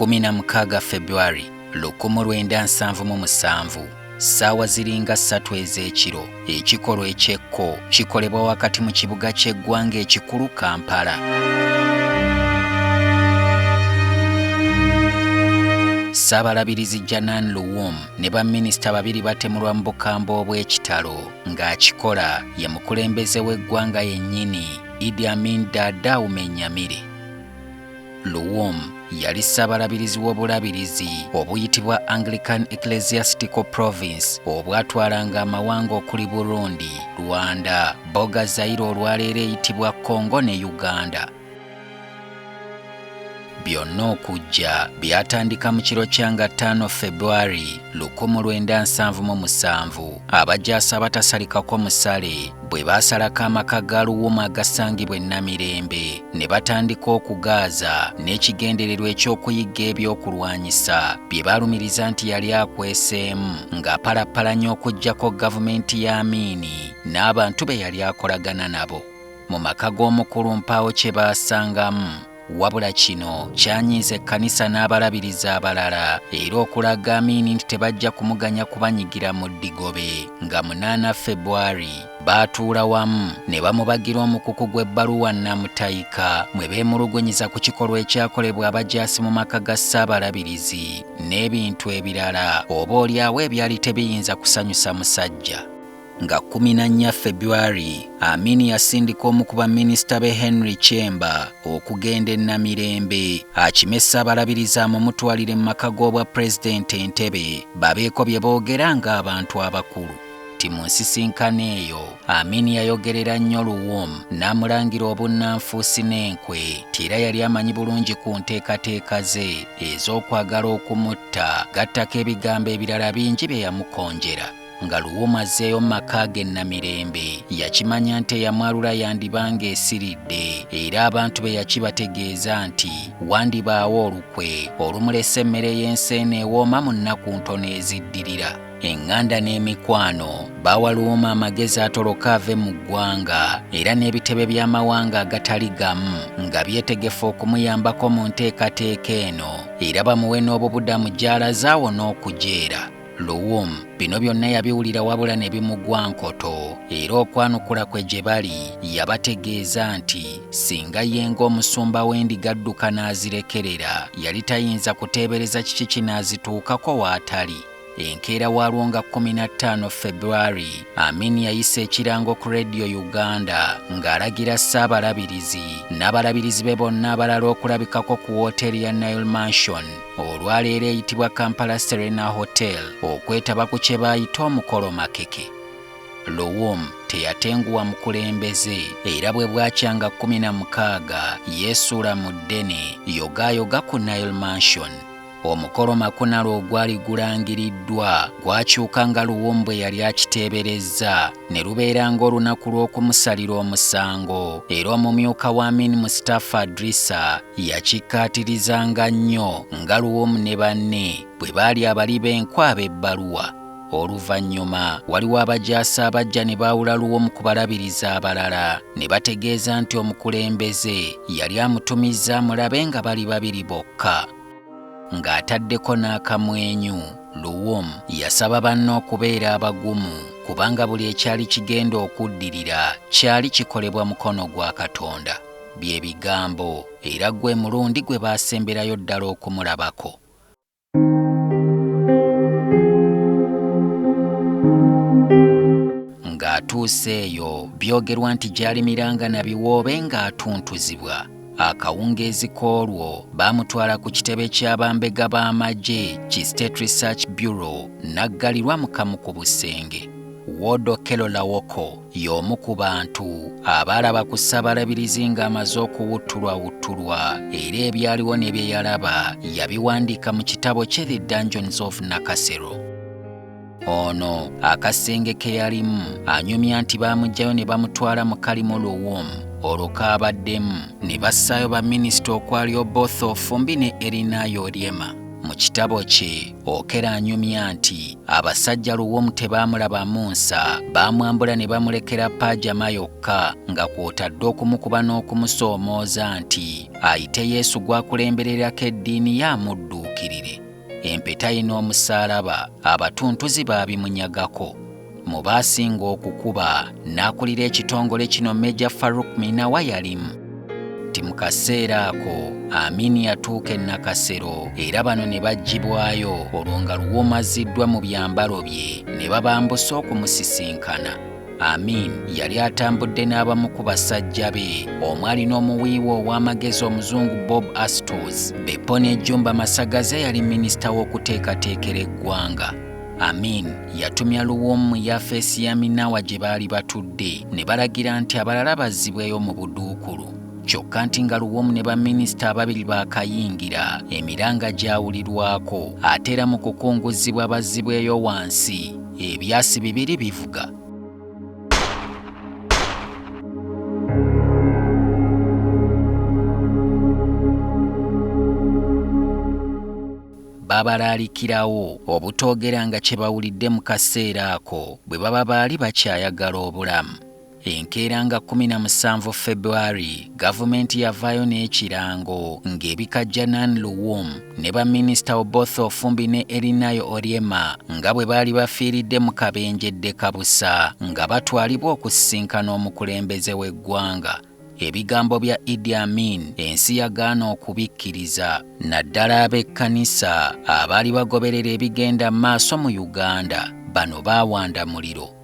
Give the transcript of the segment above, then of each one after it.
16 February 1977 ssaawa ziringa ssatu ez'ekiro ekikolwa eky'ekko kikolebwa wakati mu kibuga ky'eggwanga ekikulu Kampala. Ssabalabirizi Janan Luwum ne baminisita babiri batemulwa mu bukambwe obw'ekitalo ng'akikola ye mukulembeze w'eggwanga yennyini Idi Amin Dada Umenyamire. Luwum yali ssabalabirizi w'obulabirizi obuyitibwa Anglican Ecclesiastical Province obwatwalanga amawanga okuli Burundi, Rwanda, Boga Zaire olwaleero eyitibwa Congo ne Uganda. byonna okujja byatandika mu kiro kya nga 5 februari 1977 abajaasi abatasalikako musale bwe baasalako amaka ga luwuma agasangibwa ennamirembe ne batandika okugaaza n'ekigendererwa eky'okuyigga ebyokulwanyisa bye balumiriza nti yali akweseemu ng'apalappalanya okugyako gavumenti ya amiini n'abantu be yali akolagana nabo mu maka g'omukulu mpaawo kye baasangamu wabula kino kyanyiiza ekkanisa n'abalabirizi abalala era okulaga amiini nti tebajja kumuganya kubanyigira mu ddigobe nga munaana febwari baatuula wamu ne bamubagira omukuku gw'ebbaluwa nnamutayika mwe beemulugunyiza ku kikolwa ekyakolebwa abajaasi mu maka ga ssaabalabirizi n'ebintu ebirala oba olyawo ebyali tebiyinza kusanyusa musajja Nga kkumi na nnya February, Amin yasindika omu ku baminisita be Henry Kyemba okugenda e Namirembe akime Ssabalabirizi amumutwalire mu maka g'obwa Pulezidenti Entebbe babeeko bye boogera ng'abantu abakulu. Kati mu nsisinkano eyo Amin yayogerera nnyo Luwum n'amulangira obunnanfuusi n'enkwe nti era yali amanyi bulungi ku nteekateeka ze ez'okwagala okumutta gattako ebigambo ebirala bingi bye yamukonjera. nga luwuma azzeeyo mu maka ge Namirembe yakimanya nti eyamwalula yandiba ng'esiridde era abantu be yakibategeeza nti wandibaawo olukwe olumulesa emmere y'ensi eno ewooma mu nnaku ntono eziddirira eŋŋanda n'emikwano baawa luwuma amagezi atoloka ave mu ggwanga era n'ebitebe by'amawanga agatali gamu nga byetegefu okumuyambako mu nteekateeka eno era bamuwe n'obubudamu gy'alaze awo n'okujeera Luwum bino byonna yabiwulira wabula ne bimugwa nkoto era okwanukula kwe gye bali yabategeeza nti singa ye ng'omusumba w'endiga adduka n'azirekerera yali tayinza kuteebereza kiki kinaazituukako w'atali enkeera waalwo nga 15 february amin yayisa ekirango ku radio uganda ng'alagira ssaabalabirizi n'abalabirizi be bonna abalala okulabikako ku wooteeri ya nile mansion olwaleero eyitibwa Kampala Serena Hotel okwetaba ku kye baayita omukolo makeke. Luwum teyatenguwa mukulembeze era bwe bwakyanga kkumi na mukaaga yeesuula mu ddene yogaayoga ku Nile Mansion. Omukolo makunalo ogwali gulangiriddwa gwakyuka nga Luwum bwe yali akiteeberezza ne lubeera ng'olunaku lw'okumusalira omusango era omumyuka wa Amin Mustafa Adrisa yakikkaatirizanga nnyo nga Luwum ne banne bwe baali abali b'enkwe ab'ebbaluwa. Oluvannyuma waliwo abajaasi abajja ne baawula Luwum ku balabirizi abalala ne bategeeza nti omukulembeze yali amutumizza amulabe nga bali babiri bokka. ng'ataddeko n'akamwenyu luwum yasaba banne okubeera abagumu kubanga buli ekyali kigenda okuddirira kyali kikolebwa mukono gwa katonda bye bigambo era gwe mulundi gwe baasemberayo ddala okumulabako ng'atuuse eyo byogerwa nti gy'alimiranga na biwoobe ng'atuntuzibwa Akawungeezi k'olwo baamutwala ku kitebe kya bambega b'amagye ki State Research Bureau n'aggalirwa mu kamu ku busenge. Ward Okello Lawoko y'omu ku bantu abaalaba ku Ssabalabirizi ng'amaze okuwuttulwawuttulwa era ebyaliwo ne bye yalaba yabiwandiika mu kitabo kye The Dungeons of Nakasero. ono akasenge ke yalimu anyumya nti baamugyayo ne bamutwala mu kalimu luwumu olwo kaabaddemu ne bassaayo baminisita okwali oboth ofumbi ne erinayo oryema mu kitabo kye okera anyumya nti abasajja luwumu tebaamulabamu nsa baamwambula ne bamulekera paajama yokka nga kwotadde okumukuba n'okumusoomooza nti ayite yesu gw'akulembererako eddiini ye amudduukirire Empeta ye n'omusaalaba abatuntuzi baabimunyagako. Mu baasinga okukuba n'akulira ekitongole kino Meja Farouk Minawa yalimu. Nti mu kaseera ako Amin yatuuka e Nakasero era bano ne baggyibwayo olwo nga Luwum azziddwa mu byambalo bye ne babambusa okumusisinkana. Amin yali atambudde n'abamu ku basajja be omwali n'omuwiiwa ow'amagezi omuzungu Bob Astos. Beppo ne Jumba Masagaze yali minisita w'okuteekateekera eggwanga. Amin yatumya Luwum mu yafeesi ya Minawa gye baali batudde ne balagira nti abalala bazzibweyo mu buduukulu. Kyokka nti nga Luwum ne baminisita ababiri baakayingira, emiranga gyawulirwako ate era mu kukunguzzibwa bazzibweyo wansi. ebyasi bibiri bivuga babalaalikirawo obutoogeranga kye bawulidde mu kaseera ako bwe baba baali bakyayagala obulamu Enkeera nga 17 February, gavumenti yavaayo n'ekirango ng'ebikajja Nan Luwum ne baminisita Oboth Ofumbi ne Erinayo Oryema nga bwe baali bafiiridde mu kabenje ddekabusa nga batwalibwa okusisinkana omukulembeze w'eggwanga. Ebigambo bya Idi Amin ensi yagaana okubikkiriza naddala ab'ekkanisa abaali bagoberera ebigenda maaso mu Uganda bano baawanda muliro.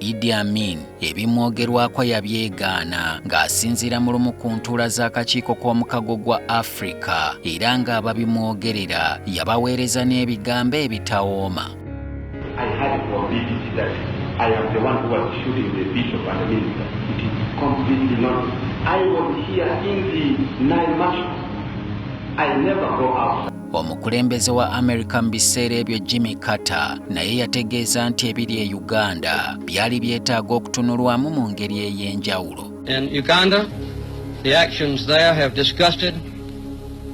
Idi Amin ebimwogerwako yabyegaana ng'asinziira mu lumu ku ntuula z'akakiiko k'omukago gwa Afrika era ng'ababimwogerera yabaweereza n'ebigambo ebitawooma. I Omukulembeze wa Amerika mu biseera ebyo Jimmy Carter naye yategeeza nti ebiri e Uganda byali byetaaga okutunulwamu mu ngeri ey'enjawulo. In Uganda, the actions there have disgusted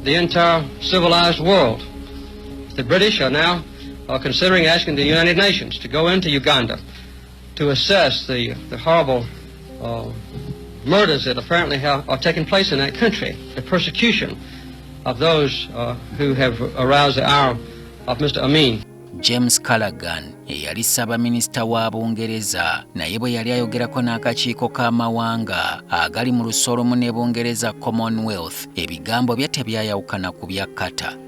the entire civilized world. The British are now are considering asking the United Nations to go into Uganda. to assess the, the horrible uh, murders that apparently have, are taking place in that country, the persecution of those uh, who have aroused the ire of Mr. Amin. James Callaghan eyali ssaabaminisita wa Bungereza naye bwe yali ayogerako n'akakiiko k'amawanga agali mu lusolomu ne Bungereza Commonwealth ebigambo bye tebyayawukana ku bya Qatar.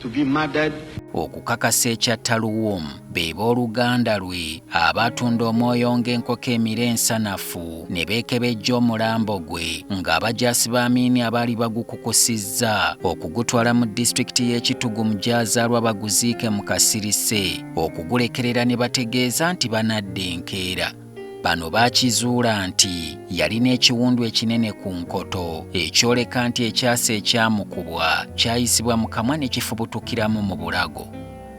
to be murdered. okukakasa ekya taluwum be booluganda lwe abaatunda omwoyo ng'enkoko emira ensanafu ne beekebejja omulambo gwe ng'abajaasi b'amiini abaali bagukukusizza okugutwala mu disitulikiti y'ekitugu mu gyazaalwa baguziike mu kasirise okugulekerera ne bategeeza nti banadda enkeera Bano baakizuula nti yalina ekiwundu ekinene ku nkoto ekyoleka nti ekyasa ekyamukubwa kyayisibwa mu kamwa ne kifubutukiramu mu bulago.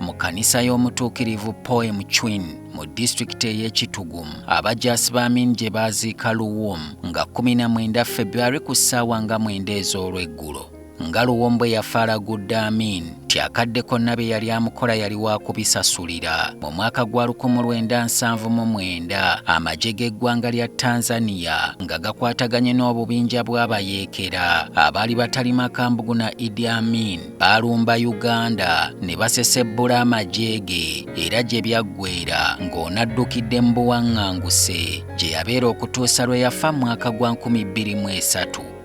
Mu kkanisa y'omutuukirivu Poem Chwin mu disitulikiti ey'e Kitugum, abajaasi ba Amin gye baaziika Luwum nga 19 February ku ssaawa nga mwenda ez'olweggulo. nga luwombwe yafaalagudde amin nti akadde konna bye yali amukola yali waakubisasulira mu mwaka gwa 1979 amagye g'eggwanga lya tanzania nga gakwataganye n'obubinja bw'abayeekera abaali batali makambugu na idi amin baalumba uganda ne basesebbula amagye ge era gye byaggwera ng'onaddukidde mu buwaŋŋanguse gye yabeera okutuusa lwe yafa mu mwaka gwa 23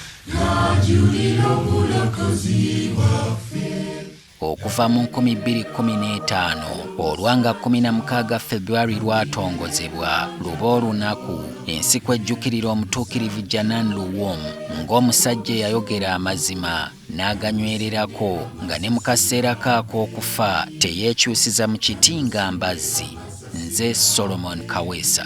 Okuva mu nkumi bbiri kkumi n'etaano olwa nga kkumi na mukaaga February lwatongozebwa luba olunaku ensi kwejjukirira omutuukirivu Janan Luwum ng'omusajja eyayogera amazima n'aganywererako nga ne mu kaseera ke ak'okufa teyeekyusiza mu kiti nga mbazzi. Nze Solomon Kaweesa.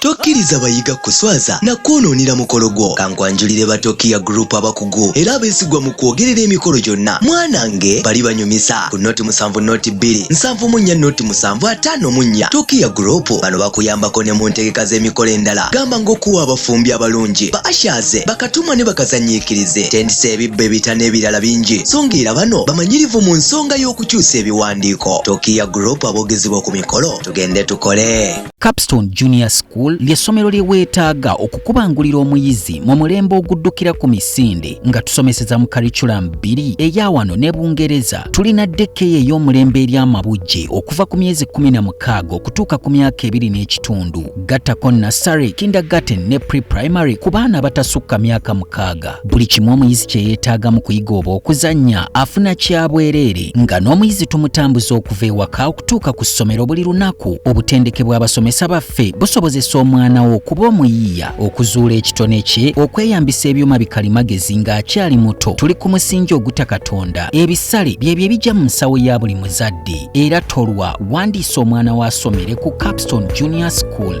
Tokkiriza bayiga kuswaza na kwonoonera mukolo gwo. Kankwanjulire ba Tokiya Group abakugu era abeesigwa mu kwogerera emikolo gyonna. Mwanange bali banyumisa ku noti musanvu noti bbiri nsanvu mu nnya noti musanvu ataano mu nnya. Tokiya Group bano bakuyambako ne mu ntegeka z'emikolo endala gamba ng'okuwa abafumbi abalungi, ba ashaze, bakatumwa ne bakazanyiikirize, tendisa ebibbo ebita n'ebirala bingi so ng'era bano bamanyirivu mu nsonga y'okukyusa ebiwandiiko. Tokiya Group aboogezebwa ku mikolo tugende tukole. Capstone Junior School ly'essomero lye weetaaga okukubangulira omuyizi mu mulembe oguddukira ku misinde nga tusomeseza mu kariculamu bbiri eya wano ne Bungereza. Tulina dekkeya ey'omulembe eri amabujje okuva ku myezi kkumi na mukaaga okutuuka ku myaka ebiri n'ekitundu. Gattako Nassary, Kindergarten ne Pre-Primary ku baana abatasukka myaka mukaaga. Buli kimu omuyizi kye yeetaaga mu kuyiga oba okuzannya afuna kya bwereere nga n'omuyizi tumutambuza okuva ewaka okutuuka ku ssomero buli lunaku. Obutendeke bw'abasomesa baffe busobozesa omwana wo okuba omuyiiya, okuzuula ekitone kye, okweyambisa ebyuma bikalimagezi ng'akyali muto. Tuli ku musingi oguta Katonda. Ebisale byebyo ebijja mu nsawo ya buli muzadde. Era tolwa, wandiisa omwana wo asomere ku Capstone Junior School.